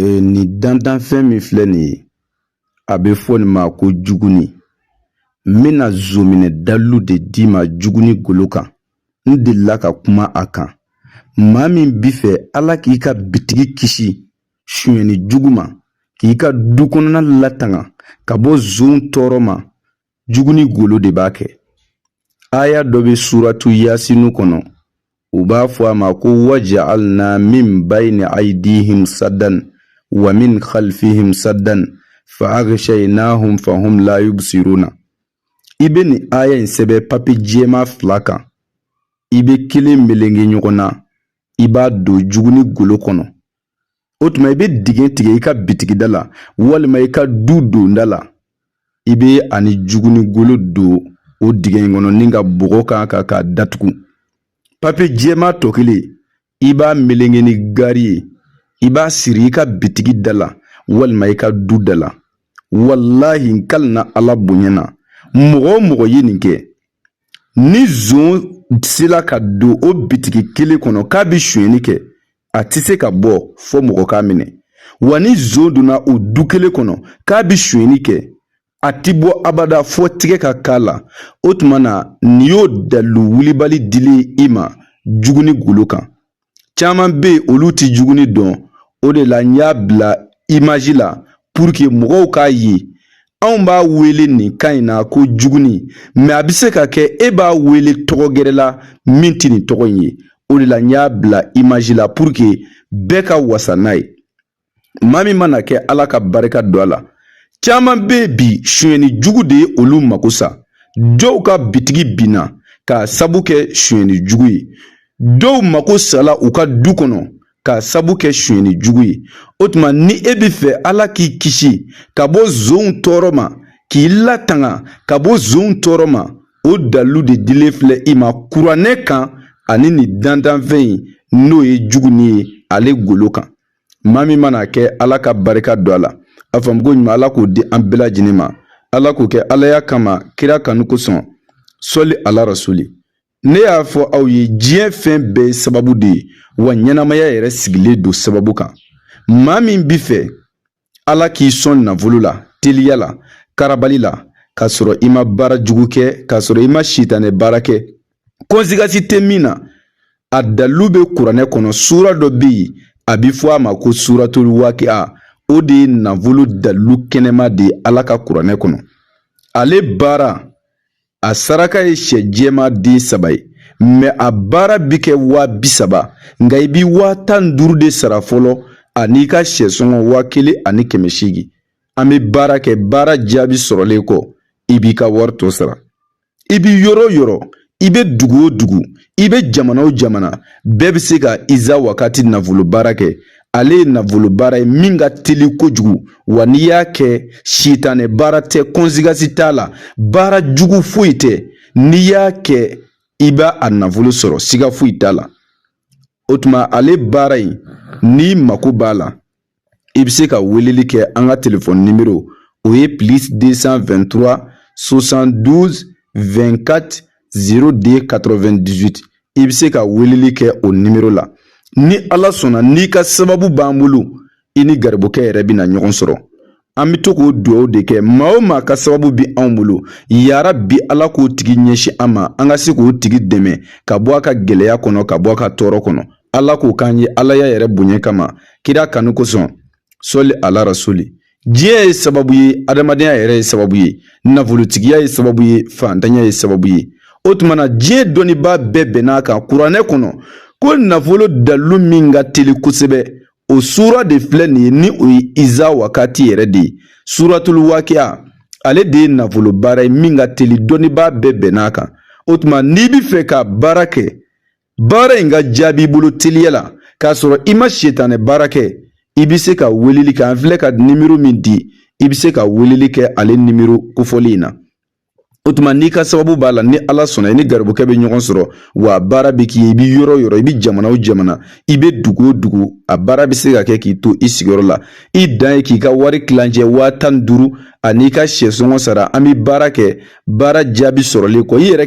Ee, nin dantanfɛn min filɛ nin ye a bɛ fɔ nin ma ko juguni n bɛna zonminɛ dalilu de d'i ma juguni golo kan n delila ka kuma a kan maa min bi fɛ ala k'i ka bitigi kisi sonyɛni jugu ma k'i ka du kɔnɔna latanga ka bɔ zonw tɔɔrɔ ma juguni golo de b'a kɛ aya dɔ bɛ suratu yasinu kɔnɔ u b'a fɔ a ma ko waja'alna min bayni aydihim saddan wa min khalfihim saddan fa aghshaynahum fahum la yubsiruna i bɛ nin aya in sɛbɛn papiye jɛma fila kan i bɛ kelen melenge ɲɔgɔn na i b'a don juguni golo kɔnɔ o tuma i bɛ dingɛ tigɛ i ka bitigida la walima i ka du donda la i bɛ a ni juguni golo don o dingɛ in kɔnɔ ni ka bɔgɔ k'a kan k'a datugu papiye jɛma tɔ kelen i b'a melenge ni gari ye i b'a siri i ka bitigi da la walima i ka du da la walahi n kalina ala bonya na mɔgɔ o mɔgɔ ye nin kɛ ni zon sela ka don o bitigi kelen kɔnɔ k'a bɛ sonyɛni kɛ a tɛ se ka bɔ fɔ mɔgɔ k'a minɛ wa ni zon donna o du kelen kɔnɔ k'a bɛ sonyɛni kɛ a tɛ bɔ abada fɔ tigɛ ka k'a la o tuma na nin y'o dalilu wulibali dilen y'i ma juguni golo kan caman bɛ yen olu tɛ juguni dɔn o de la n y'a bila image la pour que mɔgɔw k'a ye anw b'a wele nin kan in na ko juguni mais a bɛ se ka kɛ e b'a wele tɔgɔ gɛrɛ la min tɛ nin tɔgɔ in ye o de la n y'a bila image la pour que bɛɛ ka wasa n'a ye maa min man'a kɛ ala ka barika don a la caman bɛ yen bi sonyɛni jugu de ye olu mako sa dɔw ka bitigi binna k'a sabu kɛ sonyɛni jugu ye dɔw mako sala u ka du kɔnɔ k'a sabu kɛ sonyɛni jugu ye o tuma ni e bɛ fɛ ala k'i kisi ka bɔ zonw tɔɔrɔ ma k'i latanga ka bɔ zonw tɔɔrɔ ma o dalilu de dilen filɛ i ma kuranɛ kan ani nin dantanfɛn in n'o ye juguni ye ale golo kan maa min mana a kɛ ala ka barika don a la a faamuko ɲuman ala k'o di an bɛɛ lajɛlen ma ala k'o kɛ alaya kama kira kanu kosɔn sɔli ala rasuli ne y'a fɔ aw ye diɲɛ fɛn bɛɛ ye sababu de ye wa ɲɛnamaya yɛrɛ sigilen don sababu kan maa min bi fɛ Ala k'i sɔn nafolo la teliya la karabali la k'a sɔrɔ i ma baara jugu kɛ k'a sɔrɔ i ma sitanɛ baara kɛ conséquence tɛ min na a dalilu bɛ kuranɛ kɔnɔ suura dɔ bɛ yen a bɛ fɔ a ma ko suuratul wakiya o de ye nafolo dalilu kɛnɛma de ye ala ka kuranɛ kɔnɔ ale baara a saraka ye sɛ jɛman den saba ye mais a baara bi kɛ waa bi saba nka i bi waa tan ni duuru de sara fɔlɔ an'i ka sɛ sɔngɔ waa kelen ani kɛmɛ seegin an bɛ baara kɛ baara jaabi sɔrɔlen kɔ i b'i ka wari tɔ sara i bi yɔrɔ o yɔrɔ i bɛ dugu o dugu i bɛ jamana o jamana bɛɛ bɛ se ka iza wakati nafolo baara kɛ ale ye nafolo baara ye min ka teli kojugu wa n'i y'a kɛ sitanɛ baara tɛ conséquence t'a la baara jugu foyi tɛ n'i y'a kɛ i b'a nafolo sɔrɔ siga foyi t'a la o tuma ale baara in n'i mako b'a la i bɛ se ka weleli kɛ an ka telefɔni nimero o ye plus 223 72 24 02 98 i bɛ se ka weleli kɛ o nimero la ni ala sɔnna n'i ka sababu b'an bolo i ni garibukɛ yɛrɛ bɛna ɲɔgɔn sɔrɔ an bɛ to k'o dugawu de kɛ maa o maa ka sababu bi anw bolo yarabi ala k'o tigi ɲɛsin an ma an ka se k'o tigi dɛmɛ ka bɔ a ka gɛlɛya kɔnɔ ka bɔ a ka tɔɔrɔ kɔnɔ ala k'o k'an ye alaya yɛrɛ bonya kama kira kanu kosɔn sali ala rasuli diɲɛ ye sababu ye adamadenya yɛrɛ ye sababu ye nafolotigiya ye sababu ye faantanya ye sababu ye o tuma na diɲɛ dɔnnibaa bɛɛ bɛnn'a kan kuranɛ kɔnɔ ko nafolo dalilu min ka teli kosɛbɛ o suura de filɛ nin ye ni o ye iza wakati yɛrɛ de ye suratulu wakiya ale de ye nafolo baara ye min ka teli dɔnnibaa bɛɛ bɛnn'a kan o tuma n'i bɛ fɛ ka baara kɛ baara in ka jaabi i bolo teliya la k'a sɔrɔ i ma sitanɛ baara kɛ i bɛ se ka weleli kɛ an filɛ ka nimero min di i bɛ se ka weleli kɛ ale nimero kofɔli in na o tuma n'i ka sababu b'a la ni ala sɔnna i ni garibukɛ bɛ ɲɔgɔn sɔrɔ wa baara bɛ k'i ye i bɛ yɔrɔ o yɔrɔ i bɛ jamana o jamana i bɛ dugu o dugu a baara bɛ se ka kɛ k'i to i sigiyɔrɔ la i dan ye k'i ka wari tilancɛ waa tan ni duuru an'i ka sɛsɔngɔ sara an bɛ baara kɛ baara jaabi sɔrɔlen kɔ i yɛrɛ